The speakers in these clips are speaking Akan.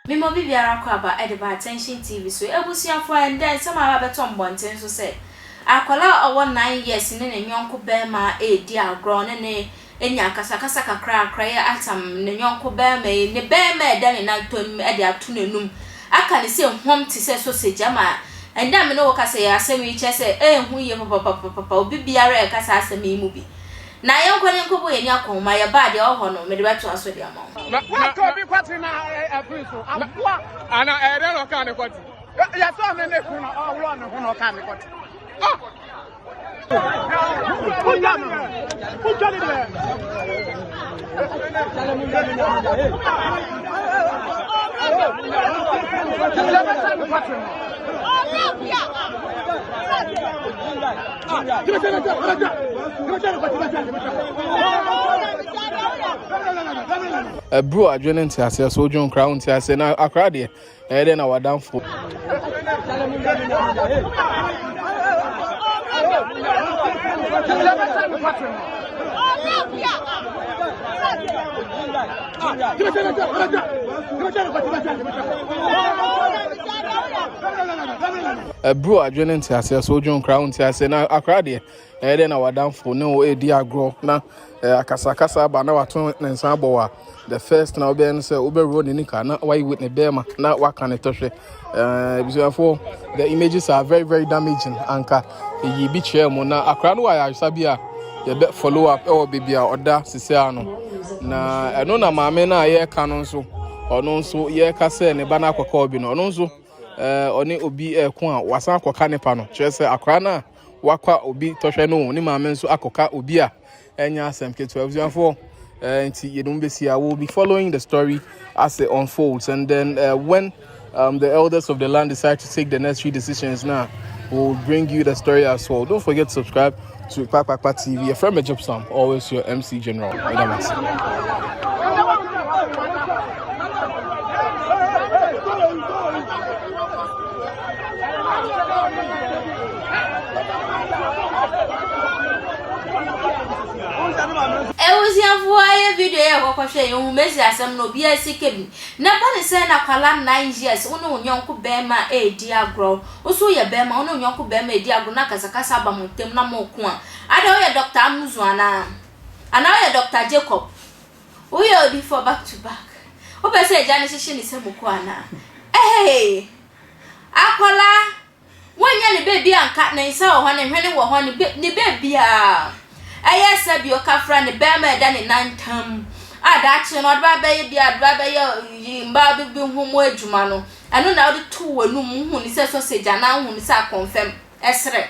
Mema obi biara kɔ aba de ba Attention TV so. Abusuafoɔ, ɛndɛ nsɛm a aba abɛtɔ mmɔnten so sɛ, akwadaa a ɔwɔ nine years ne ne yɔnko barima redi agorɔ ne ne anya akasakasa kakrakra, yɛ atam ne yɔnko barima yi, ne barima a ɛda ne nantɔ anim de ato n'anum, aka no sɛ huam te sɛ sausage ama ɛnnɛ a me ne wo rekasa yi, asɛm yi kyerɛ sɛ ɛyɛ hu yiye papapapapapa, obi biara reka saa asɛm yi mu bi. Na yɛnkɔ na yɛnkɔbɔ yɛn ani akɔ ho, ma yɛba a, deɛ ɛwɔ hɔ no, mede bɛtoa so de ama wo. Na, na, Wɔatɔ na, obi kwati na ɛ- ɛ- ɛfiri so aboa. ana ɛyɛ dɛn na ɔkaa ne kɔte? Ɛ- Yɛtɔɔ ne ne kunu na ɔworɔɔ ne ho na ɔkaa ne kɔte. Ah! Ɛburo adwene nteaseɛ so wodwo nkora wonteaseɛ na akora deɛ ɛyɛ dɛ na w'adamfo ɛburu adwene nteaseɛ so wodwo nkra wo nteaseɛ na akra deɛ Ɛyɛ dɛ na w'adamfo ne wo redi agorɔ na akasakasa aba na wato ne nsa abɔ wo a, the first na wobɛyɛ no sɛ wobɛworɔ ne nika na wayi ne bɛrima na waka ne tɔhwɛ. Abusuafoɔ, the images are very very damaging. Anka ɛyi bi kyerɛ mu na akora no wɔ ayaresa bi a yɛbɛ follow up ɛwɔ baabi a ɔda sisia no. Na ɛno na maame no a yɛreka no nso ɔno nso yɛreka sɛ ne ba no akɔka obi no ɔno nso ɔne obi ɛko a wasan akɔka ne pa no kyerɛ sɛ akora no a wakwa obi tɔhwɛ no o, ne maame nso akɔka obi a ɛnyɛ asɛm ketewa. Abusuafoɔ, uh, nti yɛde mu bɛsi a, we'll be following the story as it unfolds and then uh, when um, the elders of the land decide to take the necessary decisions now, we'll bring you the story as well. Don't forget to subscribe to Kpakpakpa TV. A friend me job some, always your MC General. Ebusuafoɔ ayɛ video yɛ kɔkɔ hwɛ yɛn home esi asɛm no obi a sika bi na bɔ ne sɛ na akwadaa nine years wo ne wo nyɔnko bɛɛma eedi agorɔ wo so woyɛ bɛɛma wo ne wo nyɔnko bɛɛma eedi agorɔ na akasakasa aba mo ntem na mo ko a adɛn woyɛ Doctor Amuzu anaa anaa woyɛ Doctor Jacob woyɛ odifoɔ back to back wopɛ sɛ agya no hyehye ne sɛ mo ko anaa ehee. Akwadaa, wonnya ne baabi a nka ne nsa wɔ hɔ, ne hwene wɔ hɔ, ne ne baabiara. Ɛyɛ sɛ bi ɔkafra ne bɛrima ɛda ne nan ntam a daakye no ɔde ba bɛyɛ bi a ɔde ba bɛyɛ yi mmaa bi bi ho mu adwuma no ɛno na ɔde to w'anum wohu ne sɛ sausage anaa wohu ne sɛ akɔnfɛm ɛserɛ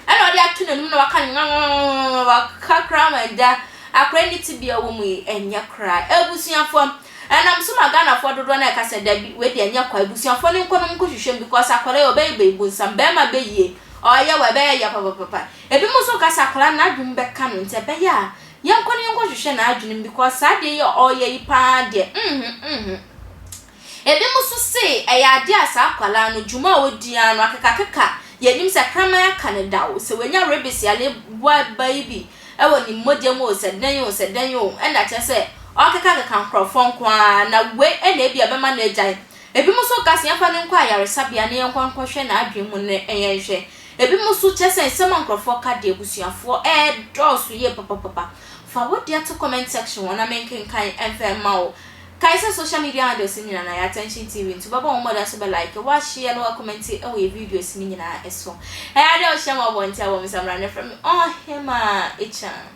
ɛna ɔde ato n'anim na waka nwanwanwanwanwanwa waka koraa ma agya akora ne tibea wɔ mu yi ɛnyɛ koraa abusuafoɔ ɛnam so ma Ghanafoɔ dodoɔ no ɛka sɛ dabi wei deɛ ɛnyɛ kwa abusuafoɔ no nkɔ no mu nkɔhwehwɛ mu because akwadaa yi ɔbɛyɛ bɛyi bonsam bɛrima bɛyie ɔyɛ wɔ ɛbɛyɛ yɛ papapapa ebi mu nso ka sɛ akwadaa no n'adwene bɛka no nti ɛbɛyɛ a yɛnkɔ no yɛnkɔhwehwɛ n'adwene mu because saa deɛ yɛ ɔyɛ yi paa deɛ mhm mhm Ebinom nso se ɛyɛ adeɛ a saa akwadaa no dwuma a ɔdi ara no akekakeka yɛn anim sɛ kraman aka no da o, sɛ wanya rabies yare boa ba yi bi wɔ ne mogya mu o, sɛ dɛn o, sɛ dɛn o, ɛnna kyerɛ sɛ ɔrekekakeka nkurɔfoɔ nko ara, na wei na ebia ɛbɛma no agyae. Ebinom nso ka sɛ yɛmfa no nkɔ ayaresabea na yɛnkɔ nkɔhwɛ n'adwene mu na yɛnhwɛ. Ebinom nso kyerɛ sɛ nsɛm a nkurɔfoɔ ka deɛ abusuafoɔ redɔɔso yie papapapa. Fa wo deɛ to comment section hɔ na menkenkan mfa mma wo. Kae sɛ social media handles no nyinaa no ayɛ attention TV nti wobɛbɔ hɔn mbɔdzen so bɛ like, wo share na wa comment wɔ yɛ videos no nyinaa so. Ɔyɛ a dɛ ɔhyɛ ma ɔbɔ ntsi a bɔ me samara na frɛ me Ɔhema Akyan.